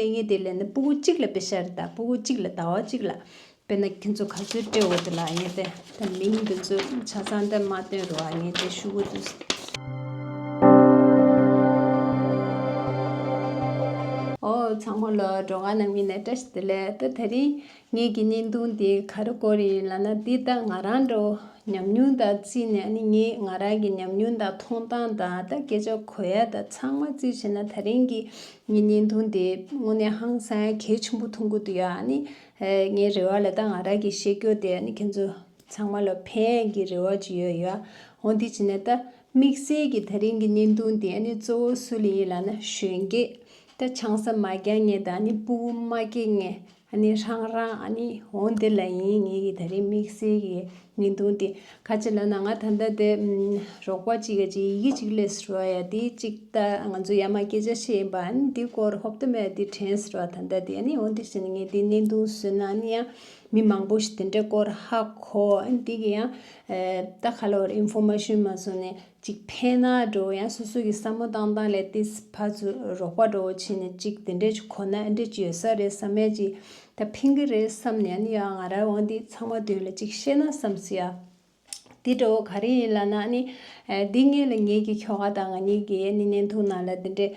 ཨེ་ངེས་དེ་ལས་ནི་སྤུ་གུ་གཅིག་ལ་དཔེ་བྱ་རེ་ད་སྤུ་གུ་གཅིག་ལ་ཟླ་བ་གཅིག་ལ་དཔེ་ན་ཁྱེད་ཚོ་ག་ཚོད་བཀྲེས་འོ་དེ་ལ་ཨེ་ངེས་ཏེ་ད་མིང་འདི་ཚོ་ཆ་ཚང་དེ་མ་བཏོན་རུ་ཨེ་ངེས་ཏེ་ཤུ་གུ་དུ། ཨོ་ཚང་མ་ལོ་གྲོགས་ང་ནང་མི་ནས་བཀྲ་ཤིས་དེ་ལས་ད་ད་རིང་ངེད་ཀྱི་བརྙན་ཐུང་དེ་ག་རེ་གོ་རེ་ཡིན་ལབ་ན་འདི་ལྟ་ང་རང་འདྲ་བོ་ཉམས་མྱོང་དང་བརྩིས་ནས་ནི་ངས་ང་རང་གི་ཉམས་མྱོང་དང་མཐོང་སྟངས་དང་ད་སྐད་ཆ་གོ་ཡ་དང་ཚང་མ་བརྩིས་བྱས་ན་ད་རིང་གི་ངའི་བརྙན་ཐུང་དེ་དངོས་གནས་ཧང་སང་གལ་ཆེན་པོ་ཐོན་གི་འདུག་ཡ་ནི་ངའི་རེ་བ་ལ་ད་ང་རང་གི་བཤད་རྒྱུ་དེ་ནི་ཁྱེད་ཚོ་ཚང་མ་ལ་ཕན་གི་རེ་བ་ཅིག་ཡོད་ཡ་འོ་འདི་བྱས་ན་ད་དམིགས་བསལ་གྱི་ད་རིང་གི་བརྙན་ཐུང་དེ་ནི་གཙོ་བོ་སུ་ལ་ཡིན་ལབ་ན་གཞོན་སྐྱེས་ད་ཆང་ས་མ་རྒྱག་ངེས་དང་ནི་སྤུ་བོ་མ་སྐྱེས་ངེས་གནས་ཧྲང་ར་ནི་འོན་དེ་ལ་ཡིན་ངེས་ཀྱི་ད་རེས་དམིགས་བསལ་གྱི་ངེས་འདུན་དེ་ཁ་ཆེ་ལ་ན་ང་ད་ལྟ་དེ་རོགས་པ་གཅིག་གཅིག་ཡི་གེ་གཅིག་ལས་ཟེར་བ་ཡ་དེ་གཅིག་ད་ང་ཚོ་ཡ་མ་སྐད་ཆ་བཤད་ཡིན་པ་ཨ་ནི་དེ་སྐོར་ཧོབ་ཏུ་མེད་དེ་དྲན་ཟེར་བ་ད་ལྟ་དེ་ཨ་ནི་འོན་དེ་བཞིན་ངས་དེ་གནས་འདུན་བཟོས་ན་ཨ་ནི་ཡང་མི་མང་པོ་ཞིག་དེ་འདྲའི་སྐོར་ཧ་གོ་ཨ་ནི་དེ་གི་ཡང་ད་ག་ལ་བར་ཨིན་ཧྥོ་མ་ཤོན་མ་བཟོ་ནས་གཅིག་འཕེན་ན་འགྲོ་བ་ཡང་སོ་སོ་གི་བསམ་བློ་བཏང་སྟངས་ལས་ཏི་སི་ཕ་ཚོས་རོགས་པ་འགྲོ་བ་ཕྱིན་ནས་གཅིག་དེ་འདྲས་ཅིག་ཁོ་ན་འདྲས་ཅིག་ཡོད་ས་རེད་བསམ་ཡ་གཅིག་ད་འཕེན་གི་རེད་བསམ་ནས་ནི་ཡ་ང་ར་བ་འདི་ཚང་མ་དོན་ལ་གཅིག་བཤད་ན་བསམ་སྲིད་ཡ། དེ་འདྲ་བོ་ག་རེ་ཡིན་ལ་ནའ་ནི། འདི་ངེད་ལ་ངེད་ཀྱི་ཁྱོ་ག་དང་ང་གཉིས་ཀྱི་ཡ་ནི་ནན་ཐུག་ནང་ལ་དེ་འདྲས་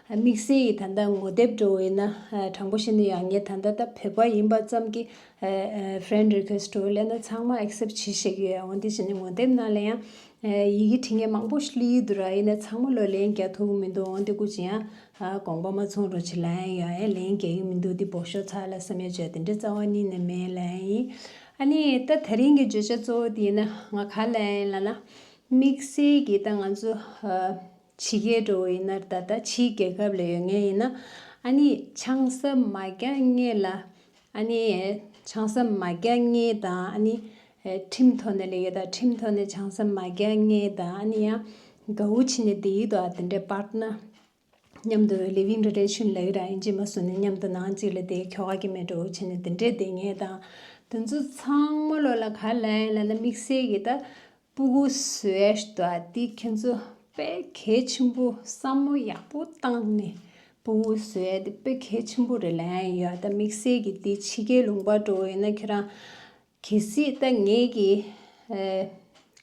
དམིགས་བསལ་ཡིས་ད་ལྟ་ངོ་དེབ་འགྲོ་འོས་ན་དྲང་པོ་བཤད་ན་ཡག་ངས་ད་ལྟ་ད་བོད་པ་ཡིན་པ་ཙམ་གྱིས Friend Request འགྲོ་འོས་ལས་ན་ཚང་མ Accept བྱེད་ཤེས་ཀྱི་ཡོད་འོན་ཏེ་བྱས་ན་ངོ་དེབ་ནང་ལ་ཡང་ཡི་གེ་བྲིས་ངས་མང་པོ་བསླི་ཡི་འདུག་ར་ཡིན་ན་ཚང་མ་ལོས་ལན་རྒྱག་ཐུབ་ཀྱི་མི་འདུག་འོན་ཏེ་སྐུ་ཇི་ཡང་དགོངས་པ་མ་ཚོང་རོགས་བྱེད་ལན་ཡང་ཡང་ཡང་ལན་རྒྱག་ཡི་མི་འདུག་འདི་བོགས་ཤོར་ཚར་ལ་བསམ་ཡོད་བྱས་དེ་འདྲའི་རྩ་བ་གཉིས་ནས་མེད་ལན་ཡིན་ཨ་ནི་ད་ད་རིང་གི་བརྗོད་བྱ་གཙོ་བོ་དེ་ཡིན་ན་ང་ག་ལན་ཡིན་ལ་ན་དམིགས་བསལ་གྱིས་ད་ང་ཚོ་ཕྱི་རྒྱལ་འགྲོ་བ་ཡིན་ན་ད་ལྟ་ཕྱིའི་རྒྱལ་ཁབ་ལ་ཡོད་ངེས་ཡིན་ན། ཨ་ནི་ཆང་ས་མ་རྒྱག་ངེས་ལ། ཨ་ནི་ཆང་ས་མ་རྒྱག་ངེས་དང་ཨ་ནི། ཁྲིམས་ཐོག་ནས་ལས་ཀ་དང་ཁྲིམས་ཐོག་ནས་ཆང་ས་མ་རྒྱག་ངེས་དང་ཨ་ནི་ཡང། ག་འུ་ཕྱི་ནས་བསྡད་ཡུལ་དུ་ཨ་དེ་འདྲའི་པར་ན། མཉམ་དུ་ལི་བིང་རེ་རེ་ཆུན་ལ་ཡུ་ར་ཨིན་ཇི་མ་བཟུང་ནས་མཉམ་དུ་ནང་གཅིག་ལ་བསྡད་ཁྱོ་ག་གི་མེད་གྲོ་འུ་ཕྱི་ནས་དེ་འདྲས་བསྡད་ངེས་དང། དེ་ཚོ་ཚང་མ་བློ་ལ་ག་ལ་ཡིན་ལ་ན་དམིགས་བསལ་གྱི་ད། སྤུ་གུ་ཟོས་ཏོ་དེ་ཁྱོད་ཚོ་དཔེ་གལ་ཆེན་པོ་བསམ་བློ་ཡག་པོ་བཏང་ནས་སྤུ་གུ་ཟོས་དེ་དཔེ་གལ་ཆེན་པོ་རེད་ལན་ཡོད་ད་དམིགས་བསལ་གྱི་དེ་ཕྱི་རྒྱལ་ལུང་པར་འགྲོ་འོས་ན་ཁྱོད་རང་གལ་སྲིད་ད་ངེད་ཀྱི་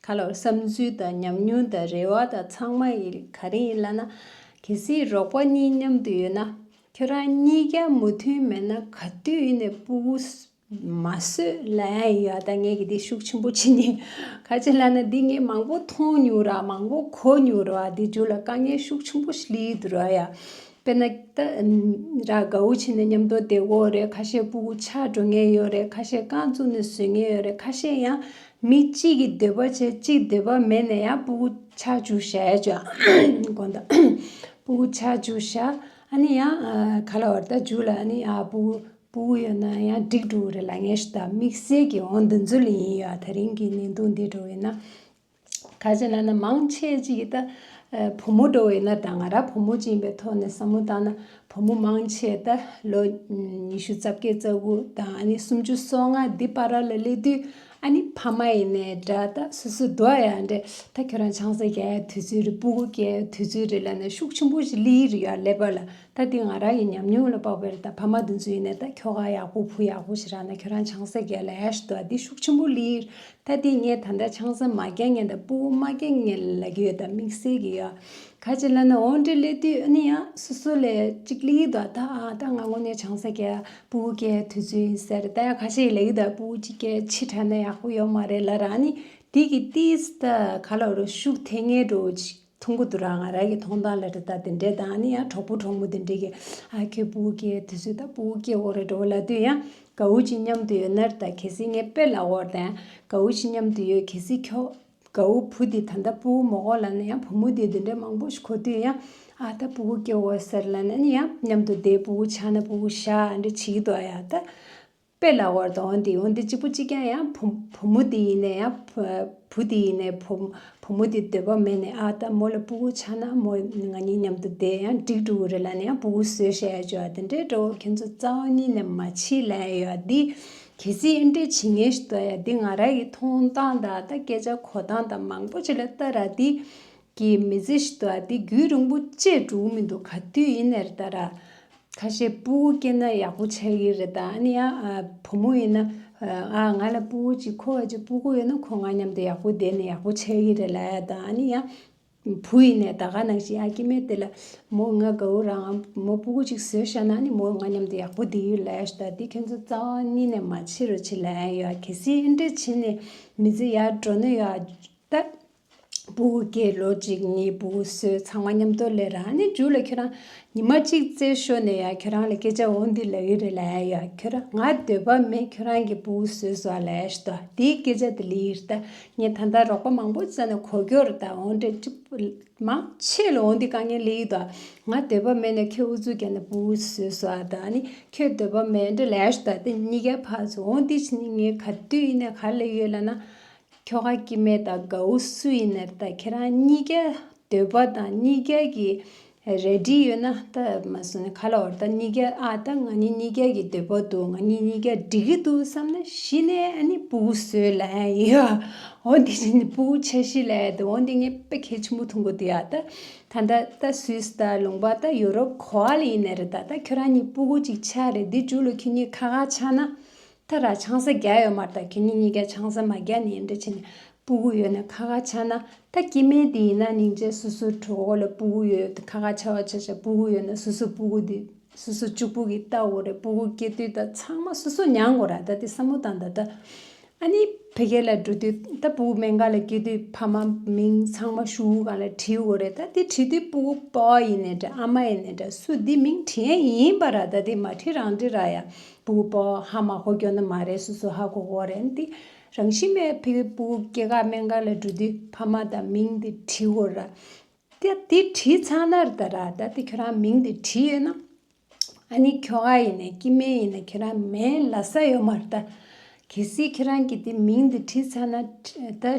ཁ་ལོ་བསམ་ཚུལ་དང་ཉམས་མྱོང་དང་རེ་བ་དང་ཚང་མ་ཡི་ག་རེ་ཡིན་ལ་ན་གལ་སྲིད་རོགས་པ་གཉིས་མཉམ་དུ་ཡོད་ན་ཁྱོད་རང་གཉིས་ཀ་མུ་མཐུན་མེད་ན་ག་དུས་ཡིན་ནས་སྤུ་གུ་མ་བཟོད་ལ་ཡ་ད་ངས་ཀྱི་དེ་ཤུགས་ཆེན་པོ་བྱེད་ངེས། ཁ་ཆེ་ལ་ན་འདི་ངས་མང་པོ་མཐོང་མྱོང་ར་མང་པོ་གོ་མྱོང་ར་བ་འདི་ཇོ་ལ་དཀའ་ངལ་ཤུགས་ཆེན་པོ་ཞིག་ལི་འདུག་ར་ཡ། དཔེར་ན་ད་ར་དགའ་བོ་བྱས་ནས་མཉམ་དོ་དེ་འོག་རེད་ཁ་ཤས་པུ་གུ་ཆགས་འགྲོ་ངེས་ཡོད་རེད་ཁ་ཤས་རྐང་བཙུགས་ནས་བཟོད་ངེས་ཡོད་རེད་ཁ་ཤས་ཡང་མི་གཅིག་གི་འདོད་པ་བྱས་གཅིག་འདོད་པ་མེད་ནས་ཡང་པུ་གུ་ཆགས་བཅུག་ཤ་ཡ་ཅོ་དགོན་ད་པུ་གུ་ཆགས་བཅུག་ཤ་ཨ་ནི་ཡང་ཁ་ལ་བར་ད་ཇུ་ལ་ཨ་ནི་ཨ་པུ་གུ། སྤུ་གུ་ཡོད་ན་ཡང་འགྲིག་འགྲོ་གི་རེད་ལ་ངས་ད་དམིགས་བསལ་གྱི་འོ་འདི་འཛུལ་ཡིན་ཡོད་ཨ་ད་རིང་གི་གནས་སྟངས་འདི་འགྲོ་བས་ན། ཁ་ཅེ་ན་ན་མང་ཆེ་གཅིག་གིས་ད་བུ་མོ་འགྲོ་བས་ན་ད་ང་རང་བུ་མོ་གཅིག་ཡིན་པའི་ཐོག་ནས་བསམ་བློ་བཏང་ན་བུ་མོ་མང་ཆེ་ད་ལོ་ཉི་ཤུ་རྩ་བརྒྱད་རྩ་དགུ་དང་ཨ་ནི་སུམ་ཅུ་སོ་ལྔ་འདི་པར་ར་ལ་སླེབས་དུས་ཨ་ནི་ཕ་མ་ཡིན་ནའི་འདྲ་ད་སོ་སོའི་འགྲོ་ཡ་འདྲ་ད་ཁྱོད་རང་ཆང་ས་རྒྱག་ཡའི་དུས་ཚོད་རེད་སྤུ་གུ་སྐྱེ་ཡའི་དུས་ཚོད་རེད་ལ་ན་ཤུགས་ཆེན་པོ་ཞིག་སླེ་ཡི་རེད་ཡ་ལེ་བར་ལ། ད་འདི་ང་རང་གི་ཉམས་མྱོང་ལ་དཔག་པའི་ད་ཕ་མ་འདི་ཚོའི་ནས་ད་ཁྱོ་ག་ཡག་པོ་བུ་ཡག་པོ་ཞིག་རག་ན་ཁྱོད་རང་ཆང་ས་རྒྱས་ལ་ཡས་ད་འདི་ཤུགས་ཆེན་པོ་ལིར་ད་འདི་ངས་ད་ད་ཆང་ས་མ་རྒྱས་ངས་ད་སྤུ་བོ་མ་རྒྱས་ངས་ལ་གི་ཡོད་ད་དམིགས་བསལ་གི་ཡོད་ག་ཅིག་ལ་ན་འོང་འདྲི་ལེ་དུས་ཨ་ནི་ཡ་སོ་སོ་ལས་ཅིག་ལིའི་ད་ད་ཨ་ད་ང་ངོ་ནས་ཆང་ས་རྒྱས་སྤུ་བོ་རྒྱས་དུས་ཚོད་ཡིན་ཟེར་ད་ཡ་ག་ཅིག་ལ་ཡིད་ད་སྤུ་བོ་ཅིག་རྒྱས་ཕྱི་དྲ་ན་ཡག་པོ་ཡོད་མ་རེད་ལ་རང་ནི་འདི་གི་ཏིས་ད་ག་ལ་རོ་ཤུགས་ཐེ་ངས་འགྲོ་བོ་ཅིག། ཐུང་གུ་དུ་ར་ང་ར་གི་ཐོང་ཐང་ལ་དྲི་དང་དེ་འདྲའི་དང་ནི་ཡང་གྲོགས་པོ་གྲོགས་མོ་དེ་འདྲའི་གི་ཨ་ཁེ་པུ་ཨུ་ཁེ་དེ་ཚོས་ད་པུ་ཨུ་ཁེ་འོག་རེ་འགྲོ་བ་ལ་དུས་ཡང་ག་ཨུ་ཅི་མཉམ་དུ་ཡོད་ནར་ད་གལ་སྲིད་ངས་དཔེ་ལ་འོག་དང་ག་ཨུ་ཅི་མཉམ་དུ་ཡོད་གལ་སྲིད་ཁྱོ་ག་ཨུ་བུ་དེ་ད་ད་པུ་ཨུ་མོ་འོག་ལ་ནི་ཡང་བུ་མོ་དེ་དེ་འདྲའི་མང་པོ་ཞིག་གོ་དུས་ཡང་ཨ་ད་པུ་ཨུ་ཁེ་འོག་ཟེར་ལ་ནི་ཡང་མཉམ་དུ་བསྡད་པུ་ཨུ་ཆགས་ན་པུ་ཨུ་ཤ་འདྲེ་བྱེད་ཀྱི་འདུག་ཨ་ཡ་ད། དཔེ་ལ་བར་དུ་འོན་ཏེ་འོན་ཏེ་གཅིག་པུ་གཅིག་ཀྱང་ཡང་བུ་བུ་མོ་དེ་ཡིན་ནས་ཡང་བུ་དེ་ཡིན་ནས་བུ་བུ་མོ་དེ་འདོད་པ་མེད་ནས་ཨ་ད་མོ་ལ་པུའུ་ཆགས་ན་མོ་ང་གཉིས་མཉམ་དུ་བསྡད་ཡང་འགྲིག་འགྲོ་གི་རེད་ལ་ནས་ཡང་པུའུ་བཟོས་ཞེས་ཡང་བརྗོད་ཨ་དེ་འདྲའི་འདྲ་བོ་ཁྱེད་ཚོ་རྩ་བ་གཉིས་ནས་མ་ཕྱིས་ལ་ཡང་ཡོད་ཨ་དེ་གལ་སྲིད་ཨེ་འདྲས་བྱེད་ངེས་ཤི་འདུག་ཨ་ཡ་དེ་ང་ར་གི་མཐོང་སྟངས་དང་ད་སྐད་ཆ་གོ་སྟངས་དང་མང་པོ་ཅི་ལ་ལྟ་ར་དེ་ཀྱི་མི་ཚེ་ཞིག་འདུག་ཨ་འདི་རྒྱུད་རིང་པོ་བཅས་འགྲོ་གི་མི་འདུག་ག་དུས་ཡིན་ནས་རེད་ད་ར། ཁ་ཤས་སྤུ་བོ་སྐྱེས་ན་ཡག་པོ་བྱ་ཡི་རེད་ད་ཨ་ནི་ཡང་བུ་མོ་ཡིན་ན། ཨ་ང་ལ་སྤུ་བོ་གཅིག་ཁོ་བ་ཅིག་སྤུ་གོ་ཡོད་ན་ཁོ་ང་མཉམ་དུ་ཡག་པོ་བསྡད་ནས་ཡག་པོ་བྱ་ཡི་རེད་ལ་ཨ་ད་ཨ་ནི་ཡང། བུ་ཡིན་ནས་ད་ག་ནང་བཞིན་ཨ་སྐྱེས་མའི་དེ་ལ། མོ་ང་དགའ་བོ་རང་ཨ་མོ་སྤུ་གོ་གཅིག་བཟོས་ཤག་ན་ཨ་ནི་མོ་ང་མཉམ་དུ་ཡག་པོ་བསྡད་ཡོད་ལ་ཨ་ཞོ་ད་འདི་ཁྱོད་ཚོ་རྩ་བ་གཉིས་ནས་མ་ཕྱི་རོ་ཕྱི་ལ་ཨ་ཡོད་ཨ་གལ་སྲིད་ཨེ་འདྲས་བྱེད་ནས་མི་ཚེ་ཡར་འགྲོ་ནི་ཡོད་ཨ་ད། བུ་དགེ་ལོ་གཅིག་གཉིས་བུ་བསོད་ཚང་མ་མཉམ་དུ་ལས་ར་ནས་འཇུག་ལ་ཁྱོད་རང་ཉི་མ་གཅིག་རྩེ་ཤོ་ནས་ཡ་ཁྱོད་རང་ལ་སྐད་ཆ་འོ་འདི་ལ་ཡོད་རེད་ལ་ཡ་ཁྱོད་རང་ང་འདོད་པ་མེད་ཁྱོད་རང་གི་བུ་བསོད་བཟོ་བ་ལས་ཤི་ད་དེའི་སྐད་ཆ་དེ་ལི་ཡིར་ད་ངས་ད་ལྟ་རོགས་པ་མང་པོ་བཙལ་ནས་གོ་སྐྱོ་རེད་ད་འོ་འདྲེ་ཅི་མང་ཆེ་ལ་འོ་འདི་དཀའ་ངལ་ལི་ཡིད་ད་ང་འདོད་པ་མེད་ནས་ཁྱོད་འུ་ཚོའི་རྒྱ་ནས་བུ་བསོད་བཟོ་བ་ད་ནི་ཁྱོད་འདོད་པ་མེད་འདྲེ་ལས་ཤི་ད་དེ་གཉིས་ཀའི་བར་ཚོ་འོ་འདི་ཕྱི་ནས་ངའི་ག་དུས་ཡིན་ནས་ག་ལ་ཡོད་ལ་ན། ཁྱོ་ག་སྐྱིད་མེད་དང་དགའ་བོ་སུ་ཡིན་ནར་ད་ཁྱེད་རང་གཉིས་ཀའི་འདོད་པ་དང་གཉིས་ཀའི་གི་རལ་གྲི་ཡོད་ན་ད་མ་སུ་ནི་ཁ་ལ་འོར་ད་གཉིས་ཀའི་ཨ་ད་ང་གཉིས་གཉིས་ཀའི་གི་འདོད་པ་འདུག་ང་གཉིས་གཉིས་ཀའི་འགྲིག་གི་འདུག་བསམ་ན་གཞི་ནས་ཨ་ནི་སྤུ་གུ་སོའི་ལ་ཡ་ཡིན་ཨ་འོ་འདི་ནི་སྤུ་གུ་ཆ་ཤས་ལ་ཡ་འདི་འོ་འདི་ངའི་པེ་ཁེ་ཆུང་མོ་ཐུང་གོ་འདི་ཨ་ད་ད་ད་ད་སུས་ད་ལུང་པ་ད་ཡོ་རོབ་གོ་ཨ་ལ་ཡིན་ནར་ད་ད་ཁྱོད་རང་གཉིས་སྤུ་གུ་གཅིག་ཆ་རེད་འདི་འཇུག་ལོ་ཁྱོད་གཉིས་ཁ་ཁ་ཆགས་ན་ད་ར་ཆང་ས་བརྒྱ་ཡོད་མར་ད་ཁྱེད་གཉིས་གཉིས་ཀ་ཆང་ས་མ་བརྒྱ་ནས་འདྲ་ཆེན་སྤུ་གུ་ཡོད་ན་ཁ་ཁ་ཆ་ན་ད་སྐྱེ་དམན་དེ་ཡིན་ན་ནིང་བྱས་སོ་སོ་གྲོ་གོ་ལ་སྤུ་གུ་ཡོད་ཁ་ཁ་ཆ་བ་ཆ་ཆ་སྤུ་གུ་ཡོད་ན་སོ་སོ་སྤུ་གུ་དེ་སོ་སོ་ཅུག་པུ་གི་ལྟ་འོ་རེད་སྤུ་གུ་སྐྱེ་དུས་ད་ཚང་མ་སོ་སོ་མྱང་གོ་ར་ད་དེ་ས་མོ་དང་ད་ད་ཨ་ནི་ཕེ་ཁེ་ལ་འགྲོ་དུས་ད་སྤུ་གུ་མན་ག་ལ་སྐྱེ་དུས་ཕ་མ་མིང་ཚང་མ་ཤུ་བུ་གང་ལ་བྲི་འོ་རེད་ད་དེ་བྲི་དུས་སྤུ་གུ་པོ་ཡིན་ནས་འདྲ་ཨ་མ་ཡིན་ནས་འདྲ་སུ་དེ་མིང་བྲི་ཡན་ཡིན་པ་ར་ད་དེ་མ་བྲི་རང་བྲི་ར་ཡ་བུ་པོ་ཧ་མ་གོ་གྱོ་ནི་མ་རེད་སུ་སུ་ཧ་གོ་གོ་རེད་འདི་རང་བཞིན་མེད་བུ་པོ་སྐྱེ་ཁ་མན་ག་ལ་འགྲོ་དུས་ཕ་མ་དང་མིང་འདི་བྲིས་གོ་ར་ད་དེ་བྲིས་ཚར་ན་ར་ད་ར་ད་དེ་ཁྱོད་རང་མིང་འདི་བྲིས་ཡོད་ན་ཨ་ནི་ཁྱོ་ག་ཡིན་ནས་སྐྱི་སྨན་ཡིན་ན་ཁྱོད་རང་མན་ལ་ས་ཡོད་མ་ར་ད་གལ་སྲིད་ཁྱོད་རང་གི་དེ་མིང་འདི་བྲིས་ཚར་ན་ད།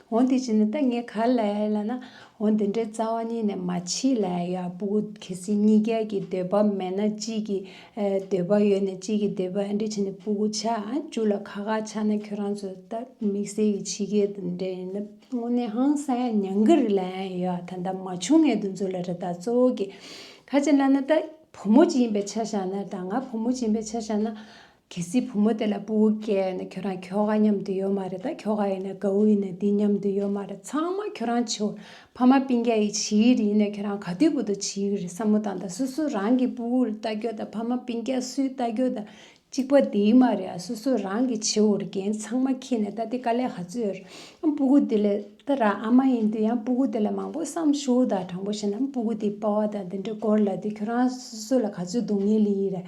འོ་དེ་བྱས་ནས་ད་ངས་ག་ལ་ཡ་ལ་ན་འོ་འདི་འདྲའི་རྩ་བ་གཉིས་ནས་མ་ཕྱིས་ལ་ཡ་བུ་གལ་སྲིད་གཉིས་ཀའི་གི་འདོད་པ་མེད་ན་གཅིག་གི་འདོད་པ་ཡོད་ནས་གཅིག་གི་འདོད་པ་འདྲ་བྱས་ནས་བུ་གུ་ཆ་བཅུ་ལ་ཁ་ཁ་ཆགས་ན་ཁྱོད་རང་ཚོ་ད་དམིགས་བསལ་གྱི་ཕྱི་རྒྱལ་དུ་འདྲ་ཡིན་ན་དངོས་གནས་ཧང་སང་ཡ་ཉང་གི་རི་ལ་ཡ་ཡོད་ད་ད་མ་བྱུང་ངས་དུ་འཛུལ་ལ་རེ་ད་གཙོ་བོ་གི་ག་བྱས་ལ་ན་ད་བུ་མོ་གཅིག་ཡིན་པའི་ཆ་བཞག་ན་ད་ང་བུ་མོ་གཅིག་ཡིན་པའི་ཆ་བཞག་ན་གལ་སྲིད་བུ་མོ་དེ་ལ་སྤུ་བོ་སྐྱེས་ཡོད་ན་ཁྱོད་རང་ཁྱོ་ག་མཉམ་དུ་ཡོད་མ་རེད་ད་ཁྱོ་ག་ཡིན་ན་གའུ་ཡིན་ན་འདི་མཉམ་དུ་ཡོད་མ་རེད་ཚང་མ་ཁྱོད་རང་བྱིའོ་ཕ་མ་སྤིན་རྒྱ་ཡི་བྱིས་ཡིག་རེད་ཡིན་ན་ཁྱོད་རང་ག་དུས་བུ་དང་བྱིས་ཡིག་རེད་བསམ་བློ་བཏང་ད་སོ་སོ་རང་གི་སྤུ་བོ་ལ་ལྟ་ཁྱོ་ད་ཕ་མ་སྤིན་རྒྱ་སུའི་ལྟ་ཁྱོ་ད་གཅིག་པ་དེ་ཡིན་མ་རེད་ཨ་སོ་སོ་རང་གི་བྱིའོ་རེད་རྒན་ཚང་མ་ཁྱེད་ནས་ད་དེ་དཀའ་ལས་ག་ཚོད་ཡོད་རེད་ཨ་སྤུ་གུ་དེ་ལས་ད་ར་ཨ་མ་ཡིན་དུས་ཡང་སྤུ་གུ་དེ་ལ་མང་པོ་བསམ་ཞུའོ་ད་དྲང་པོ་བཤད་ན་ཨ་སྤུ་གུ་དེ་སྤ་བ་དང་དེ་འདྲ་སྐོར་ལ་དེ་ཁྱོད་རང་སོ་སོ་ལ་ག་ཚོད་སྡུག་བསྔལ་ཡིན་རེད།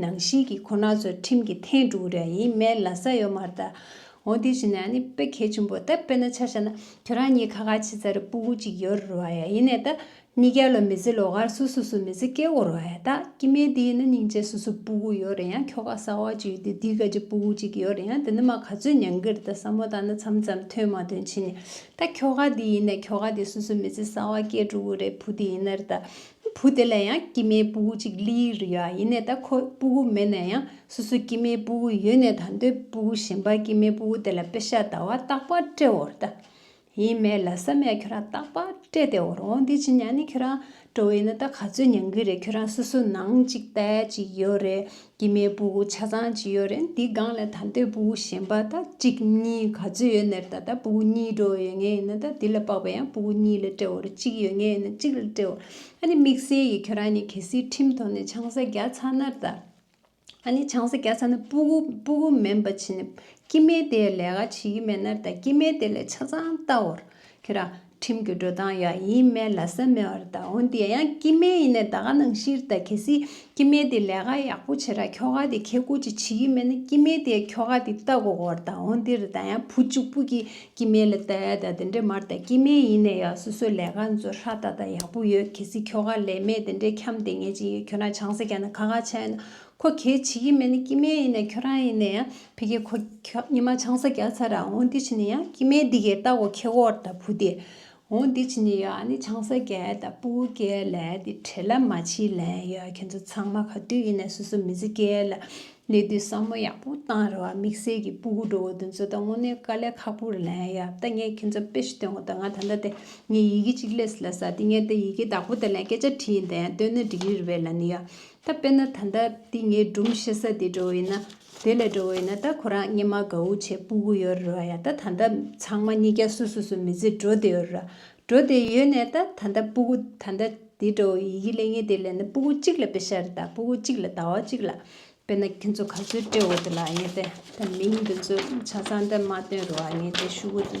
ནང་བཞིན་གྱི་ཁོ་ན་ཚོ་ཁྲིམས་ཀྱི་ཐེངས་དྲུག་རེ་ཡིན་མན་ལ་ས་ཡོད་མ་རེད་ད། འོ་དེ་བྱས་ན་ནི་དཔེ་གལ་ཆེན་པོ་ད་དཔེར་ན་ཆ་ཤ་ན་ཁྱོད་རང་གཉིས་ཁ་ཁ་ཆེ་ཚ་རེ་སྤུ་གུ་གཅིག་ཡོད་རེད་བ་ཡ་ཡིན་ནས་ད། གཉིས་ཀའི་ལོ་མི་ཚེ་ལོ་གར་སུ་སུ་སུ་མི་ཚེ་སྐྱེལ་དགོས་རེད་བ་ཡ་ད་ཀྱི་མེད་དེ་ཡིན་ན་སྙིང་རྗེ་སུ་སུ་སྤུ་གུ་ཡོད་རེད་ཡང་ཁྱོ་ག་གསར་བ་གཅིག་ཡོད་དེ་དེའི་ག་ཅིག་སྤུ་གུ་གཅིག་ཡོད་རེད་ཡང་དེ་ནི་མ་ག་ཚོད་མྱང་གི་རེད་ད་ས་མོ་ད་ནི་ཚམ་ཚམ་ཐོན་མ་ཐོན་ཕྱིན་ནས་ད་ཁྱོ་ག་དེ་ཡིན་ནས་ཁྱོ་ག་དེ་སུ་སུ་མི་ཚེ་གསར་བ་སྐྱེལ་འགྲོ་གི་རེད་བུ་དེ་ཡིན་ན་རེད་ད། བུ་དེ་ལ་ཡང་སྐྱེ་མའི་སྤུ་གུ་གཅིག་ལི་ཡིག་རུ་ཡོད་ཡིན་ནས་ད་ཁོ་སྤུ་གུ་མེད་ན་ཡང་སོ་སོའི་སྐྱེ་མའི་སྤུ་གུ་ཡོད་ནས་ད་མདོའི་སྤུ་གུ་གཞན་པར་སྐྱེ་མའི་སྤུ་གུ་དེ་ལ་དཔེ་ཤ་ད་བ་རྟག་པར་སྤྲད་འོ་རྟ་ཡིན་མེད་ལ་ས་མེད་ཁྱོད་རང་རྟག་པར་སྤྲད་དེ་འོ་རོང་འདི་ཇི་ཉག་ནི་ཁྱོད་རང་སྤྲོ་བ་ཡིན་ན་ད་ག་ཚོད་མྱང་གི་རེད་ཁྱོད་རང་སོ་སོ་ནང་གཅིག་ལྟ་ཅིག་ཡོད་རེད་དཀྱིལ་མའི་སྤུ་གུ་ཆ་ཚང་གཅིག་ཡོད་རེད་འདི་སྒང་ལ་ད་འདོད་སྤུ་གུ་གཞན་པ་ད་གཅིག་གཉིས་ག་ཚོད་ཡོད་ནེར་ད་ད་སྤུ་གུ་གཉིས་འགྲོ་བ་ཡོད་ངེས་ཡིན་ན་ད་འདི་ལ་དཔག་པ་ཡང་སྤུ་གུ་གཉིས་ལ་དཔྲལ་བར་གཅིག་ཡོད་ངེས་ཡིན་ན་གཅིག་ལ་དཔྲལ་བར་ཨ་ནི་དམིགས་བསལ་གྱི་ཁྱོད་རང་གཉིས་གལ་སྲིད་ཁྲིམས་ཐོག་ནས་ཆང་ས་རྒྱག་ཚར་ན་ད་ཨ་ནི་ཆང་ས་རྒྱག་ཚར་ན་སྤུ་གུ་སྤུ་གུ་མིན་པ་བྱིན་ནས་དཀྱིལ་མའི་དེའི་ལས་ཀ་བྱེད་ཀྱི་མེད་ན་ད་དཀྱིལ་མའི་དེ་ལས་ཆ་ཚང་བལྟ་བར་ཁྱོད་རང་ཁྲིམས་ཀྱི་འགྲོ་སྟངས་ཡང་ཡིན་སྨྲས་ལ་ས་མེད་བར་གདའ་འོན་ཏེ་ཡང་སྐྱི་སྨན་ཡིན་ནས་ད་ག་ནང་ཤིར་གདའ་གལ་སྲིད་སྐྱི་སྨན་དེ་ལས་ཀ་ཡག་པོ་བྱེད་ར་ཁྱོ་ག་དེ་ཁྱེད་སྐུ་ཅིག་བྱེད་ཀྱི་མེད་ན་སྐྱི་སྨན་དེ་ཁྱོ་ག་དེ་ལྟ་གོ་གོ་བར་གདའ་འོན་ཏེ་ར་གདའ་ཡང་བུ་བཅུག་པུ་ཀྱིས་སྐྱི་སྨན་ལ་ལྟ་ཡ་ད་དེ་འདྲས་མར་གདའ་སྐྱི་སྨན་ཡིན་ནས་ཡང་སོ་སོས་ལས་ཀ་འཛོལ་ཧྲ་ད་ད་ཡག་པོ་ཡོད་གལ་སྲིད་ཁྱོ་ག་ལས་མེད་དེ་འདྲས་འཁྱམ་དེ་ངས་ཅི་ཡོད་ཁྱོ་ན་ཆང་ས་རྒྱ་ན་ཁ་ཁ་ཆ་ཡོད་ན་ཁོ་གལ་བྱེད་ཀྱི་མེད་ནི་སྐྱི་སྨན་ཡིན་ནས་ཁྱོད་རང་ཡིན་ནས་ཡང་ཕི་གེ་ཁོ་ཉི་མ་ཆང་ས་རྒྱག་ཚར་ར་འོང་འདི་བྱེད་ནི་ཡང་སྐྱི་སྨན་འདི་གའི་རྟ་གོ་ཁེ་གོར་ད་བུ་དེ་འོང་འདི་བྱེད་ནི་ཡང་ནི་ཆང་ས་རྒྱལ་ད་བུ་རྒྱལ་ལན་དེ་བྲེ་ལ་མ་བྱིས་ལན་ཡང་ཁྱེད་ཚོ་ཚང་མ་ག་དུས་ཡིན་ནས་སོ་སོ་མི་ཚེ་རྒྱལ་ལ་གནས་དུས་བསམ་བློ་ཡག་པོ་བཏང་ར་བ་དམིགས་བསལ་གྱི་སྤུ་གུ་འགྲོ་བོ་དེ་ཚོ་ད་དངོས་གནས་དཀའ་ལས་ཁག་པོ་ར་ལན་ཡང་ད་ངས་ཁྱེད་ཚོ་དཔེ་ཞིག་སྟོན་གོ་ད་ང་ད་ལྟ་དེ་ངས་ཡི་གེ་གཅིག་ལས་སུ་ལ་ཟ་དེ་ངས་ད་ཡི་གེ་དག་པོ་ད་ལན་སྐད་ཆ་བྲིས་ཡིན་ད་ཡང་སྟོན་ན་འགྲིག་གི་ར་བས་ལ་ནི་ཡང། ད་དཔེར་ན་ད་ལྟ་འདི་ངའི་སྒྲུང་བཤད་ས་དེ་འགྲོ་འོས་ན་དེ་ལས་འགྲོ་འོས་ན་ད་ཁོ་རང་སྙེ་མ་ག་འུ་ཆེ་སྤུ་གུ་ཡོད་རེད་བ་ཡ་ད་ད་ད་ཚང་མ་སྙེ་རྒྱ་སུ་སུ་སུ་མི་ཚེ་འགྲོ་བསྡད་ཡོད་རེད་བ་འགྲོ་བསྡད་ཡོད་ནས་ད་ད་ད་སྤུ་གུ་ད་ད་དེ་འགྲོ་འོས་ཡི་གི་ལས་ངན་དེ་ལས་ན་སྤུ་གུ་གཅིག་ལ་དཔེ་ཤར་རེད་ད་སྤུ་གུ་གཅིག་ལ་ཟླ་བ་གཅིག་ལ་དཔེར་ན་ཁྱོད་ཚོ་ག་ཚོད་སྤྲད་འོས་འདུག་ལ་ངས་ད་ད་མིང་འདི་ཚོ་ཆ་ཚང་ད་མ་བཏོན་རེད་བ་ངས་ད་ཞུ་གུ་འདི།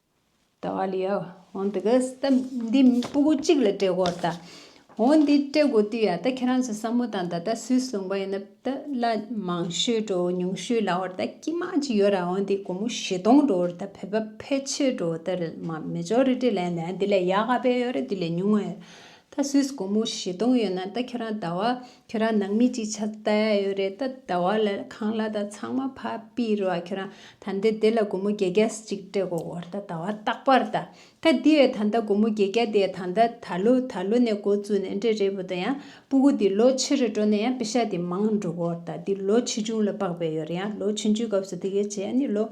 ད་བ་ལི་ཡའོ་འོན་ཏེ་གཱས་ད་འདི་སྤུ་གུ་གཅིག་ལ་སྤྲད་དགོས་ད། འོ་འདི་སྤྲད་དགོས་དུས་ཡ་ད་ཁྱེད་རང་ཚོས་བསམ་བློ་དང་ད་ད་སུས་གསུངས་པ་ཡིན་ན་ད་བླ་མང་ཤོས་འགྲོ་ཉུང་ཤོས་ལ་འོ་ད་སྐྱིད་མ་ཅིག་ཡོད་ར་འོ་འདི་སྒོར་མོ་བཞི་སྟོང་འགྲོ་འོ་ད་བོད་པ་ཕལ་ཆེར་འགྲོ་འོ་ད་རེད་མ་མེ་ཅོ་རི་ཏི་ལན་ད་འདི་ལས་ཡག་ག་པའི་ཡོད་རེད་འདི་ལས་ཉུང་བ་ཡོད་ད་སུས་སྒོར་མོ་བཞི་སྟོང་ཡོད་ན་ད་ཁྱོད་རང་ཟླ་བ་ཁྱོད་རང་ནང་མི་ཅིག་ཆགས་ལྟ་ཡོད་རེད་ད་ཟླ་བ་ལ་ཁང་གླ་དང་ཚང་མ་ཕ་པི་རི་བ་ཁྱོད་རང་ད་འདི་འདི་ལ་སྒོར་མོ་བརྒྱད་བརྒྱ་ཅིག་སྤྲད་གོ་འོར་ད་ཟླ་བ་རྟག་པར་ད་ད་འདི་ཡོད་ད་ད་སྒོར་མོ་བརྒྱད་བརྒྱ་དེ་ད་ད་ད་ལོ་ད་ལོ་ནས་འགོ་བཙུགས་ནས་འདྲེ་རེད་བུ་ད་ཡང་སྤུ་གུ་འདི་ལོ་ཕྱི་རུ་འགྲོ་ནས་ཡང་པི་ཤ་དེ་མང་འགྲོ་གོ་འོར་ད་འདི་ལོ་ཆེ་ཆུང་ལ་དཔག་པའི་ཡོད་རེད་ཡང་ལོ་ཆུང་ཆུང་སྐབས་སུ་འདི་གས་བྱས་ཡང་ནི་ལོ་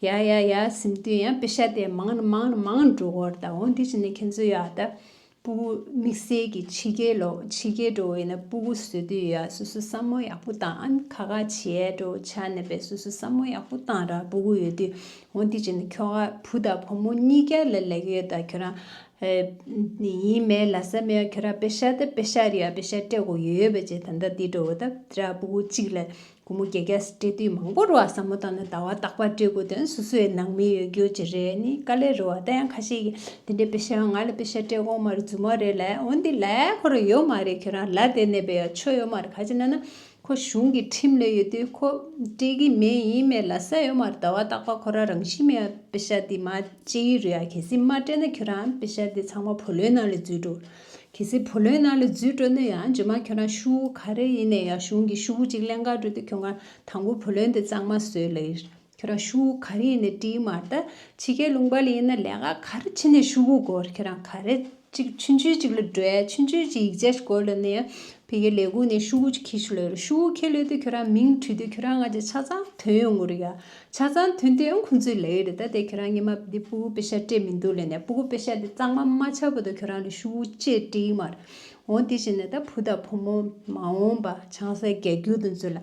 ཡ་ཡ་ཡ་ཟིམ་དུས་ཡང་པི་ཤ་དེ་མང་ན་མང་ན་མང་འགྲོ་གོ་འོར་ད་འོ་འདི་བྱས་ནས་ཁྱེད་ཚོས་ཡ་ད་སྤུ་གུ་དམིགས་བསལ་གྱི་ཕྱི་རྒྱལ་ལོ་ཕྱི་རྒྱལ་འགྲོ་བས་ན་སྤུ་གུ་བཟོས་དུས་ཡ་སོ་སོ་བསམ་བློ་ཡག་པོ་བཏང་ཨན་ཁ་ཁ་བྱས་འགྲོ་བྱ་ནས་པས་སོ་སོ་བསམ་བློ་ཡག་པོ་བཏང་ར་སྤུ་གུ་ཡོད་དུས་འོང་དུས་བྱས་ནས་ཁྱོ་ག་བུ་དང་བུ་མོ་གཉིས་ཀ་ལ་ལེགས་ཡོད་ད་ཁྱོད་རང་ཡིན་མེད་ལ་ས་མེད་ཁྱོད་རང་པེ་ཤ་ད་པེ་ཤ་རེད་ཨ་པེ་ཤ་སྤྲད་གོ་ཡོད་ཡོད་པ་བྱས་ད་ད་འདི་འགྲོ་བ་ད་ར་སྤུ་གུ་གཅིག་ལ་ཁོ་མོ་རྒྱལ་ཁྱེར་སྤྲད་དུས་མང་པོར་བ་ཟ་མོ་དང་ནི་ཟླ་བ་རྟག་པར་སྤྲད་དགོས་དོན་སོ་སོའི་ནང་མི་ཡོད་རྒྱུ་ཅི་རེད་ནི་དཀའ་ལས་རེད་བ་ད་ཡང་ཁ་ཤས་ཀྱིས་དེ་འདྲའི་དཔེ་ཆའང་ང་ལ་དཔེ་ཆ་སྤྲད་དགོངས་མ་རེད་རྫུན་མ་རེད་ལ་འོན་ཏེ་ལ་ཁོ་རང་ཡོད་མ་རེད་ཁྱོད་རང་ལ་དེ་གནས་པའི་ཆོ་ཡོད་མ་རེད་ག་ཅི་ན་ན་ཁོ་གཞུང་གི་ཁྲིམས་ལས་ཡོད་དུས་ཁོ་སྤྲད་ཀྱི་མེད་ཡིན་མེད་ལ་ས་ཡོད་མ་རེད་ཟླ་བ་རྟག་པར་ཁོ་རང་རང་བཞིན་མེད་པ་དཔེ་ཆ་དེ་མ་སྤྲད་ཡུལ་རེད་ཡ་གལ་སྲིད་མ་སྤྲད་ན་ཁྱོད་རང་དཔེ་ཆ་དེ་ཚང་མ་བུ་ལོན་ནང་ལ་འཛུལ་འགྲོ། གལ་སྲིད་བུ་ལོན་ནང་ལ་རྫུས་སྤྲོད་ནུས་ཡང་རྗེས་མར་ཁྱོད་རང་ཤུ་བོ་ག་རེ་ཡིན་ནས་ཡང་གཞུང་གི་ཤུ་བོ་གཅིག་ལན་འགའ་སྤྲོད་དུས་ཁྱོད་རང་དང་པོ་བུ་ལོན་དེ་གཙང་མ་བཟོས་ལ་ཡིར་ཁྱོད་རང་ཤུ་བོ་ག་རེ་ཡིན་ནས་བྲིས་མ་ད་ཕྱི་རྒྱལ་ལུང་པ་ལ་ཡིན་ན་ལས་ཀ་ག་རེ་ཕྱིན་ནས་ཤུ་བོ་སྒོར་ཁྱོད་རང་ག་རེ་གཅིག་ཆུ་འཇུས་གཅིག་ལ་སྒྲོལ་ཆུ་འཇུས་གཅིག་ཡིག་ཆ་ཞིག་བཀོད་ལ་ནི་ཡང་ཕི་རྒྱལ་ལས་ཁུངས་ནས་ཤུ་བོ་གཅིག་ཁྱི་ཤུ་ལ་ཡིར་ཤུ་བོ་ཁྱི་ལོས་དུས་ཁྱོད་རང་མིང་བྲིས་དུས་ཁྱོད་རང་ང་ཅི་ཆ་ཚང་དོན་ཡོད་ངོ་རེ་ཡ་ཆ་ཚང་དོན་དེ་ཁོང་ཚོའི་ལས་ཡོད་རེད་ད་དེ་ཁྱོད་རང་ཉི་མ་བུ་དེ་པུ་གུ་པེ་ཤ་སྤྲད་མི་འདུག་ལས་ནས་པུ་གུ་པེ་ཤ་དེ་གཙང་མ་མ་ཆགས་པོ་ད་ཁྱོད་རང་ལས་ཤུ་བོ་ཅེས་བཀྲིས་མར་འོང་དེ་བཞིན་ནས་ད་བུ་དང་བུ་མོ་མ་འོང་པ་ཆང་ས་རྒྱག་རྒྱུ་དེ་ཚོ་ལ་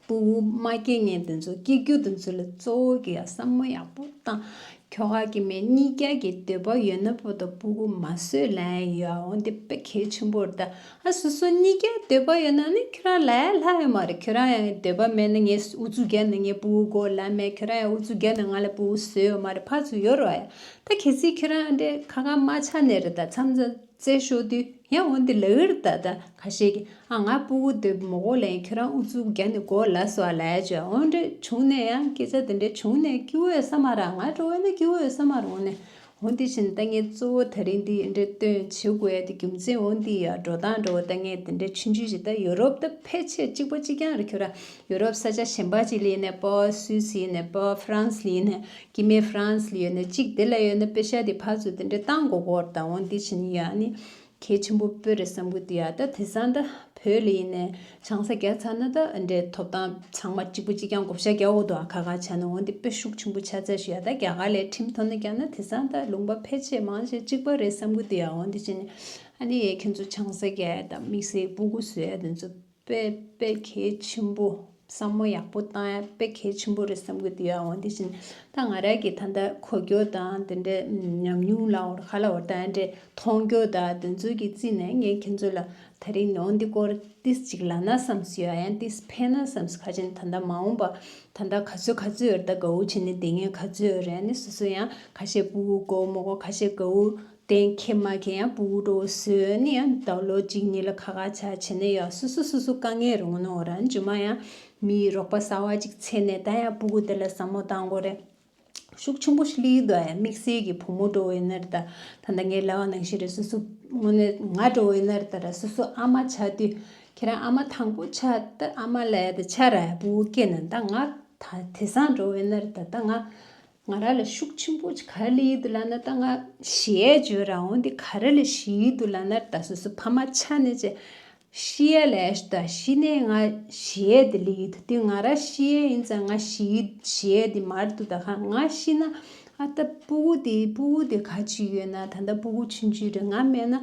པུ་གུ་མ་སྐྱེ་ངན་དེ་ཚོ་སྐྱེ་རྒྱུ་དེ་ཚོ་ལ་གཙོ་བོ་གི་ཡ་བསམ་མོ་ཡག་པོ་བཏང་ཁྱོ་ག་གི་མེ་གཉིས་རྒྱག་གི་འདོད་པ་ཡོད་ན་བུ་དང་པུ་གུ་མ་བཟོས་ལན་ཡོད་འོང་དེ་དཔེ་གལ་ཆེན་པོར་ད་ཨ་སོ་སོ་གཉིས་ཀས་འདོད་པ་ཡོད་ན་ནི་ཁྱོད་རང་ལ་ཡང་ལྷག་ཡོད་མ་རེད་ཁྱོད་རང་ཡང་འདོད་པ་མེད་ན་ངས་ཨུ་ཚུགས་རྒྱག་ན་ངའི་བུའུ་སྒོ་ལ་མེད་ཁྱོད་རང་ཡང་ཨུ་ཚུགས་རྒྱག་ན་ང་ལ་བུའུ་བཟོས་ཡོད་མ་རེད་ཕར་ཚུར་ཡོད་རོགས་ཡ་ད་གལ་སྲིད་ཁྱོད་རང་འདྲས་ཁ་ཁ་མ་ཆགས་ནས་རེ་ད་མཚམས་ཚ་བཙལ་ཤོག་དུས་ཡང་འོན་ཏེ་ལག་འུར་ད་ད་ཁ་ཤས་ཀྱིས་ཨ་ང་བུའུ་འདོད་པ་མོ་སྒོ་ལ་ཡིན་ཁྱོད་རང་ཨུ་ཚུགས་རྒྱག་ནས་སྒོ་ལ་སོ་ཨ་ལ་ཡ་བྱོས་ཨོ་འདྲས་བྱུང་ནས་ཡང་སྐད་ཆ་དེ་འདྲས་བྱུང་ནས་སྐྱིད་འོས་ས་མ་ར་ང་འགྲོ་འོས་ན་སྐྱིད་འོས་ས་མ་ར་འོ་ནས་འོན་དེ་བཞིན་ལྟ་ངན་གཙོ་བོ་ད་རིང་འདིའི་འབྲེལ་སྟོན་བྱེད་དགོས་ཡ་དེ་རྒྱུ་མཚན་འོན་དེ་ཡང་འགྲོ་སྟངས་འགྲོ་བ་ལྟ་ངན་དེ་འདྲའི་ཆུན་ཆུན་ཞིག་ད་ཡོ་རོབ་ད་ཕལ་ཆེར་གཅིག་པ་གཅིག་རྐྱང་རེ་ཁྱོད་རང་ཡོ་རོབ་ས་ཆ་གཞན་པ་ཅིག་ལ་ཡིན་ནས་པ་སུས་ཡིན་ནས་པ་ཧྥ་རན་སི་ལ་ཡིན་ནས་ཀྱི་མེ་ཧྥ་རན་སི་ལ་ཡོད་ནས་གཅིག་དེ་ལ་ཡོད་ནས་པེ་ཤ་དེ་ཕར་ཚུར་དེ་འདྲའི་སྟངས་མགོ་སྐོར་དང་འོན་དེ་བཞིན་ཡང་ནི་གལ་ཆེན་པོ་སྤོས་རེད་བསམ་གི་འདུག་ད་དེ་སང་ད་བོད་ལི་ཡིན་ནས་ཆང་ས་རྒྱག་ཚར་ན་ད་འདྲའི་ཐོབ་ཐང་ཚང་མ་གཅིག་པུ་གཅིག་རྐྱང་བགོ་བཤའ་རྒྱག་འོག་ཏུ་ཁ་ཁ་བྱས་ན་འོང་དེ་དཔེ་ཤུགས་ཆེན་པོ་ཆགས་ཚར་ཞིག་ཡ་ད་རྒྱ་གར་ལས་ཁྲིམས་ཐོག་ནས་བསྐྱངས་ན་དེ་སང་ད་ལུང་པ་ཕལ་ཆེ་མང་ཞིག་གཅིག་པ་རེད་བསམ་གི་འདུག་འོང་དེ་བྱས་ནས་ཨ་ནི་ཡས་ཁྱོད་ཚོ་ཆང་ས་རྒྱས་དང་མིག་སེར་སྤུ་གུ་བཟོས་དེ་ཚོ། དཔེ་དཔེ་གལ་ཆེན་པོ་བསམ་བློ་ཡག་པོ་བཏང་ཡ་དཔེ་གལ་ཆེན་པོ་རེད་བསམ་གི་འདུག་ཡ་འོན་དེ་བཞིན་ད་ང་ར་གི་ད་ལྟ་གོ་རྒྱོ་དང་དེ་འདྲའི་ཉམས་མྱོང་ལ་འོར་ཁ་ལ་འོར་དང་འདྲའི་མཐོང་རྒྱོ་ད་དེ་ཚོའི་གི་རྩིས་ནས་ངས་ཁྱེད་ཚོ་ལ་ད་རིང་ནོ་འདི་སྐོར་ཏིས་ཅིག་ལ་ན་བསམ་སུ་ཡ་ཡང་ཏིས་ཕན་ན་བསམ་སུ་ཁ་ཆེན་ད་ད་མ་འོང་པ་ད་ད་ག་ཚོད་ག་ཚོད་འོར་ད་གའུ་ཆེ་ནི་དེ་ངས་ག་ཚོད་འོར་ཡ་ནི་སོ་སོ་ཡང་ཁ་ཤས་པུ་གུ་གོ་མོ་གོ་ཁ་ཤས་གའུ་གཏན་འཁེལ་མ་མཁན་ཡང་པུའུ་ཀྲོའུ་སུའུ་ནི་ཡང་ད་ལོ་གཅིག་གཉིས་ལ་ཁ་ཁ་ཆག་ཆེ་ནས་ཡང་སོ་སོ་སོ་སོ་དཀའ་ངལ་རོང་ནོ་ར་འཇུ་མ་ཡང་མིའི་རོགས་པ་གསར་བ་ཅིག་ཚེ་ནས་ད་ཡང་པུ་གུ་དེ་ལ་ཟ་མོ་ད་མགོ་རེད་ཤུགས་ཆུང་པོ་ཞིག་ལི་ཡིག་དུ་ཨ་ཡ་དམིགས་བསལ་གྱི་བུ་མོ་འགྲོ་འོས་ན་རེ་ད་ད་ད་ངའི་ལ་བ་ནང་བཞིན་རེ་སོ་སོ་ངོ་ནས་ང་འགྲོ་འོས་ན་རེ་ད་ར་སོ་སོ་ཨ་མ་ཆ་དུས་ཁྱེད་རང་ཨ་མ་དང་པོ་ཆ་ད་ཨ་མ་ལ་ཡ་ད་ཆ་ར་ཡ་པུའུ་ཀེ་ན་ད་ང་ད་དེ་སང་འགྲོ་འོས་ན་རེ་ད་ད་ང་ང་ར་ལ་ཤུགས་ཆེན་པོ་ག་རེ་ལ་ཡིད་དུ་ལ་ན་ད་ང། ཞེས་བརྗོད་ར་འོང་དེ་ག་རེ་ལ་ཞེས་ཡིད་དུ་ལ་ནར་ད་སོ་སོ་ཕ་མ་ཆ་ནས་ཅེ། ཤི་ཡ་ལ་ཡས་ད་ཤི་ནས་ང་ཞེས་དེ་ལ་ཡིད་དུ་དེ་ང་ར་ཤི་ཡས་ཡིན་ཙང་ང་ཤི་ཡིད་ཞེས་དེ་མར་དུ་ད་ག་ང་ཤི་ན་ཨ་ད་སྤུ་གུ་དེ་སྤུ་གུ་དེ་ག་ཅི་ཡོད་ན་ད་ད་སྤུ་གུ་ཆུན་ཆུན་རེད་ང་མེད་ན།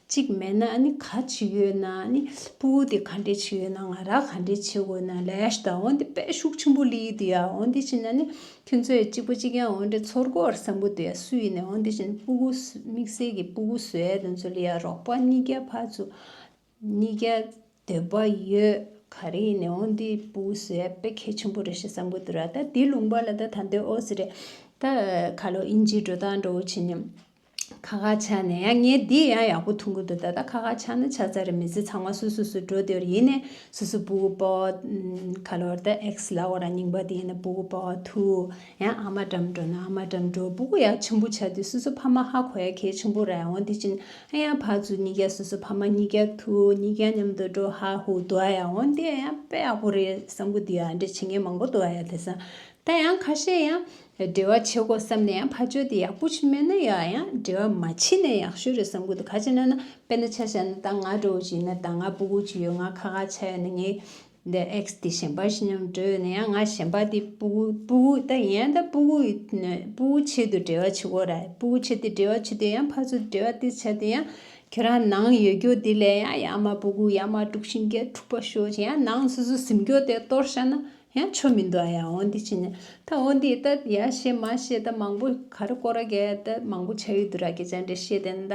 གཅིག་མེད་ན་ནི་ག་ཅི་ཡོད་ན་ནི་སྤུ་བོ་དེ་ག་འདྲའི་ཆེ་ཡོད་ན་ང་རང་ག་འདྲའི་ཆེ་དགོས་ན་ལས་དང་འོན་ཏེ་དཔལ་ཤུགས་ཆེན་པོ་ལི་ཡི་དེ་ཡང་འོན་ཏེ་ཕྱིན་ན་ནི་ཁྱོད་ཚོའི་གཅིག་པ་གཅིག་ཡང་འོན་ཏེ་ཚོར་སྒོ་བར་སམ་པོ་དེ་ཡང་སུ་ཡིན་ནའི་འོན་ཏེ་ཕྱིན་སྤུ་བོ་དམིགས་བསལ་གྱི་སྤུ་བོ་ཟོས་དེ་ཚོ་ལི་ཡར་རོགས་པ་གཉིས་ཀ་ཕར་ཚུར་གཉིས་ཀ་སྡོད་པ་ཡོད་ག་རེ་ཡིན་ནའི་འོན་ཏེ་སྤུ་བོ་ཟོས་དཔེ་གལ་ཆེན་པོ་རེད་ཤི་སམ་པོ་དེ་ར་ད་དེ་ལུང་པ་ལ་ད་ད་འདོད་ཨོ་སི་རེད་ད་ག་ལོ་ཨིན་ཇིའི་འགྲོ་སྟངས་འགྲོ་བོ་ཕྱིན་ནི། ཁ་ཁ་ཆ་ནས་ཡང་ངས་འདི་ཡང་ཡག་པོ་ཐུང་གི་འདུག་ད་ལྟ་ཁ་ཁ་ཆ་ནས་ཆ་ཚ་རེ་མི་ཚེ་ཚང་མ་སུ་སུ་སུ་འགྲོ་འདོད་ཡིན་ནས་སུ་སུ་པུ་གུ་པོ། ག་ལོར་ད་ཨེགས་ལ་འོ་ར་རྙིང་པ་དེ་ཡིན་ན་པུ་གུ་པོ་ཐུ། ཡང་ཨ་མ་འགྲམ་འགྲོ་ན་ཨ་མ་འགྲམ་འགྲོ་པུ་གུ་ཡག་ཆེན་པོ་ཆ་དུས་སུ་སུ་ཕ་མ་ཧ་གོ་ཡ་གལ་ཆེན་པོ་རེད་འོ་དེ་ཕྱིན་ཨ་ཡང་ཕ་ཚུ་གཉིས་ཀ་སུ་སུ་ཕ་མ་གཉིས་ཀ་ཐུ་གཉིས་ཀ་མཉམ་དུ་འགྲོ་ཧ་ཧུ་འདུག་ཨ་ཡང་འོ་དེ་ཡང་དཔེ་ཡག་པོ་རེད་བསམ་གི་འདུག་ཡ་འདྲེ་ཆེ་ངས་མང་པོ་འདུག་ཨ་ཡ་དེ་སང་ད་ཡང་ཁ་ཤས་ཡང་འབྲེལ་བ་བྱེད་དགོས་བསམ་ནས་ཡང་ཕར་བྱོས་ཏེ་ཡག་པོ་ཆུ་མེད་ན་ཡག་ཡང་འབྲེལ་བ་མ་བྱེད་ནས་ཡག་ཤོས་རེད་བསམ་གོ་འདུག་ག་ཅེ་ན་ན་དཔེ་ན་ཆ་བཞག་ན་ད་ང་འགྲོ་འོ་ཅི་ཡིན་ན་ད་ང་སྤུ་གུ་ཅི་ཡོད་ང་ཁ་ཁ་ཆ་ཡོད་ན་ངའི་འདི X དེ་གཞན་པར་ཤི་སྙམ་འགྲོ་ཡོད་ན་ཡང་ང་གཞན་པ་དེ་སྤུ་གུ་སྤུ་གུ་ད་ཡིན་ཡང་ད་སྤུ་གུ་སྤུ་གུ་ཆེད་དུ་འབྲེལ་བ་བྱེད་དགོས་རེད་སྤུ་གུ་ཆེད་དུ་འབྲེལ་བ་བྱེད་དུས་ཡང་ཕར་ཚུར་འབྲེལ་བ་དེ་བྱས་ཏེ་ཡང་ཁྱོད་རང་ནང་ཡོད་རྒྱུ་དེ་ལས་ཡང་ཡག་མ་སྤུ་གུ་ཡག་མ་དཀྲུག་ཤིང་རྒྱལ་དཀྲུག་པ་ཤོར་ཅིག་ཡང་ནང་སོ་སོ་གཟིམ་རྒྱུ་དེ་གཏོར་བཞག་ན་ཡང་ཆོ་མི་འདུག་ཨ་ཡ་འོ་འདི་ཅི་ནས་ད་འོ་འདི་ད་ཡ་ཞེས་མ་ཤེས་ད་མང་པོ་ག་རེ་ཀོ་ར་གས་ད་མང་པོ་བྱ་ཡུལ་དུ་ར་གས་བྱ་འདྲེ་ཤེས་དན་ད་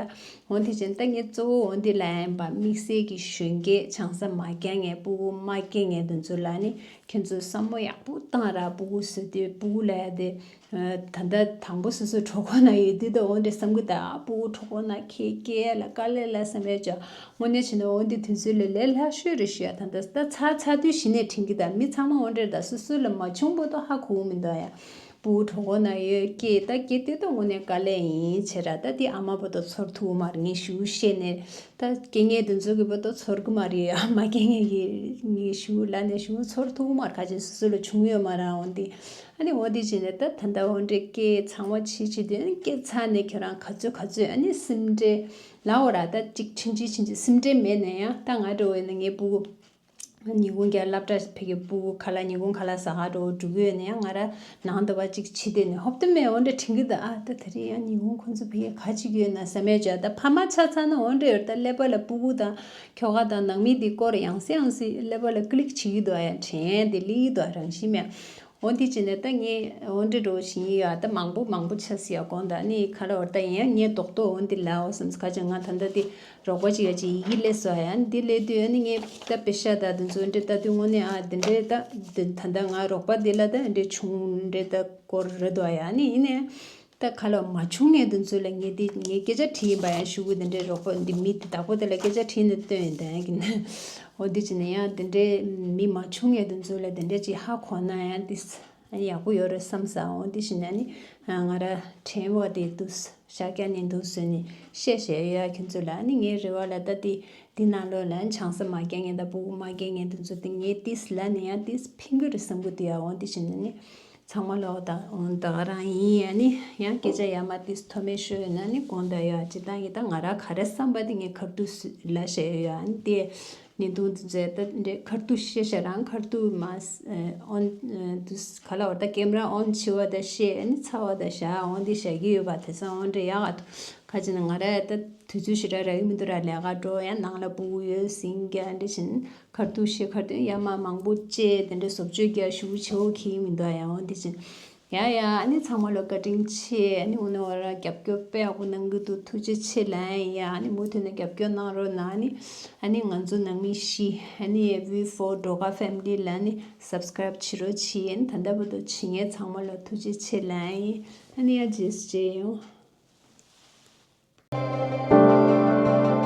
འོ་འདི་ཅན་ད་ངས་གཙོ་བོ་འོ་འདི་ལ་ཡན་པ་དམིགས་བསལ་གྱི་གཞོན་སྐྱེས་ཆང་ས་མ་རྒྱ་ངས་སྤུ་གུ་མ་སྐྱེ་ངས་དེ་ཚོ་ལ་ནི་ཁྱེད་ཚོས་བསམ་བློ་ཡག་པོ་བཏང་ར་སྤུ་གུ་བཟོས་དེ་སྤུ་གུ་ལ་ཡ་དེ་ད་ལྟ་དང་པོ་སོ་སོའི་གྲོགས་ཁོ་ན་ཡོད་དུས་དང་འོན་ཏེ་བསམ་གྱི་དང་པོ་གྲོགས་ཁོ་ན་ཁྱེད་སྐྱེས་ལ་དཀའ་ལས་ལ་བསམ་ཡོད་ཀྱང་དངོས་གནས་བྱས་ན་འོན་ཏེ་དུས་ཚོད་ལས་ལས་ལྷག་ཤོས་རེ་ཞུ་ཡ་དང་ད་ལྟ་ཚ་ཚ་དུས་ཞི་གནས་དྲན་གྱི་དང་མི་ཚང་མ་དངོས་འབྲེལ་དང་སོ་སོ་ལ་མ་བྱུང་པོ་ཏོ་ཧ་གོ་བོ་མི་འདུག་ཡ་པོ་གྲོགས་ཁོ་ན་ཡོད་སྐྱེས་ད་སྐྱེས་དུས་དང་དངོས་གནས་དཀའ་ལས་ཡིན་ཆེ་ར་ད་དེ་ཨ་མ་པོ་ཏོ་ཚོར་ཐུག་མར་ངེས་ཞུ་བཤད་ནས་ད་སྐྱེས་ངའི་དུ་འཛོ་གི་པོ་ཏོ་ཚོར་གི་མ་རེད་ཡ་མ་སྐྱེས་ངའི་ངེས་ཞུ་ལ་ནས་ཞུ་ཚོར་ཐུག་མར་ཁ་ཆེ་སོ་སོ་ལ་བྱུང་ཡོད་མ་རང་འོན་ཏེ། ཨ་ནི་འོ་འདི་བྱས་ནས་ད་ད་འདའོ་འདྲེ་ཀེ་ཚང་བ་བྱེད་བྱེད་དོན་སྐྱེད་ཚ་ནས་ཁྱོད་རང་ག་ཚོད་ག་ཚོད་ཨ་ནི་སིམ་འདྲེ་ལའོ་ར་ད་ཅིག་ཕྱིན་ཅི་ཕྱིན་ཅི་སིམ་འདྲེ་མེད་ན་ཡང་ད་ང་འགྲོ་འོས་ན་ངའི་སྤུ་གུ་ཉི་གུང་རྒྱ་ལབ་འདྲ་ཕེ་གི་སྤུ་གུ་ག་ལ་ཉི་གུང་ག་ལ་ཟ་ག་འགྲོ་འོ་འགྲུབ་འོས་ན་ཡང་ང་ར་ནང་འདའ་བ་ཅིག་བྱེད་དེ་ནས་ཧོབ་ཏུ་མེད་འོ་འདྲེ་ཕྲིན་གི་ད་ཨ་ད་དེ་རིང་ཡང་ཉི་གུང་ཁོ་ཚོ་ཕེ་གི་ག་ཅིག་ཡོད་ན་ཟ་མས་བྱ་ད་ཕ་མ་ཆ་ཚང་ན་འོ་འདྲེ་འོ་ད་ཀླད་པ་ལ་སྤུ་གུ་དང་ཁྱོ་ག་དང་ནང་མི་འདི་སྐོར་ཡང་སྲིད་ཡང་སྲིད་ཀླད་པ་ལ་ཀི་ལིག་བྱེད་ཀི་འདུག་ཨ་ཡ་དྲན་དེ་གླེགས་ཡི་འདུག་ཨ་རང་བཞིན་མེད། འོ་འདི་ཅི་ནས་ད་ངས་འོ་འདྲི་འགྲོ་བཞིན་ཡོད་ཨ་ད་མང་པོ་མང་པོ་ཆགས་སྲིད་ཡ་གོང་ད་ནི་ཁ་ར་བ་ད་ཡིན་ཡ་ངས་རྡོག་རྡོག་འོ་འདི་ལའོ་བསམ་ཚེ་ཁ་ཅིག་ང་ད་ལྟ་འདི་རོགས་པ་ཅིག་ཡ་ཅིག་ཡི་གི་ལས་སོ་ཡ་འདི་ལས་དུས་ཨ་ནི་ངས་ད་བེ་ཤ་ད་འདི་ཚོ་འོ་འདྲི་ད་དུས་དངོས་གནས་ཨ་འདི་འདྲས་ད་འདི་ད་ད་ང་རོགས་པ་འདི་ལ་ད་འོ་འདྲི་བྱུང་འོ་འདྲས་ད་སྐོར་རེད་འདུག་ཨ་ཡ་ཨ་ནི་ཡིན་ནའི་ད་ག་ལ་འོ་མ་ཆུང་ངེས་དུ་མཛོད་ལ་ངེས་དེ་ངས་སྐད་ཆ་དྲིས་ཡིན་པ་ཡང་ཞུ་གི་དེ་འདྲའི་རོགས་པ་འདི་མི་དེ་བདག་པོ་དེ་ལ་སྐད་ཆ་དྲིས་ནས་བཏོན་ཡོད་དེ་གི་ན་འོ་དེ་བྱས་ན་ཡང་དེ་འདྲའི་མི་མ་ཆུང་ངེས་དུ་མཛོད་ལ་དེ་འདྲའི་ཅིག་ཧ་གོ་ན་ཡང་དེ་ཡག་པོ་ཡོད་རེད་བསམ་ས་འོ་དེ་བྱས་ན་ནི་ང་ར་དྲན་བ་དེ་འདུག་ཤཱཀྱ་ནི་འདུག་ཟོས་ནས་བཤད་བཤད་ཡོད་ཡ་ཁྱོད་ཚོ་ལ་ནི་ངའི་རེ་བ་ལ་ད་དེ་དེ་ན་ལོ་ལ་ཆང་ས་མ་རྒྱ་ངེས་དང་བུ་གུ་མ་རྒྱ་ངེས་དུ་མཛོད་དེ་ངས་དེ་ལ་ནི་ཡང་དེ་ཕིན་གི་རེད་བསམ་གི་འདུག་ཡ་འོ་དེ་བྱས་ན་ནི་ཚང་མ་ལོག་ལྟ་འོང་ལྟ་རང་ཡིན་ཡ་ནི་ཡང་སྐད་ཆ་ཡ་མ་ཏིས་ཐོ་མེད་ཤོད་ཡོད་ན་ནི་གོང་ལྟ་ཡ་ཇི་ལྟ་ཡི་ལྟ་ང་ར་ག་རེ་བསམ་པ་དེ་ངས་གར་ཏུ་སུས་ལ་བཤད་ཡོད་ཡ་ནི་དེ་ནི་དུང་དུ་མཛད་ལྟ་འདྲེ་གར་ཏུ་བཤད་བཤད་རང་གར་ཏུ་མ་ཨོན་དུ་ག་ལ་བར་ད་ཀེམ་ར་ཨོན་བྱི་བ་ད་བཤད་ཡ་ནི་ཚ་བ་ད་བྱ་ཨོན་དེ་བྱ་གི་ཡོད་པ་དེ་སང་ཨོན་འདྲེ་ཡ་ག་ཏུ་ག་ཅི་ན་ང་ར་ད་དུས་ཚོད་ཞིག་ར་ར་གི་མི་འདུག་ར་ལས་ཀ་འགྲོ་ཡ་ནང་ལ་སྤུ་གུ་ཡོད་སིང་ག་འདྲེ་བྱིན་མཁར་དུ་ཤེལ་མཁར་དུ་གཡའ་མར་མང་པོ་བཅས་དེ་འདྲའི་བཟོ་བཅོས་རྒྱ་ཤུགས་ཆེ་བོ་གྱིས་མི་འདུག་ཡང་འོན་ཏེ་ཅི་ཡང་ཡང་ནི་ཚང་མ་བློ་བཀའ་དྲིན་ཆེ་ནི་འོ་ན་འོ་ར་རྒྱབ་སྐྱོར་དཔེ་ཡག་པོ་གནང་གི་འདུག་ཐུགས་རྗེ་ཆེ་ལན་ཡང་ནི་མུ་མཐུད་ནས་རྒྱབ་སྐྱོར་གནང་རོགས་གནང་ནི་ཨ་ནི་ང་ཚོ་ནང་མི་ཤི་ཨ་ནི་བྷི་བྷོ་འགྲོ་ཁ family ལ་ནི subscribe བྱེད་རོགས་ཆེ་ཡན་ད་ལྟ་བུ་དོ་བྱེད་ངས་ཚང་མ་ལ་ཐུགས་རྗེ་ཆེ་ལན་ཡིན་ཨ་ནི་ཨ་རྗེས་བྱེད་ཡོང།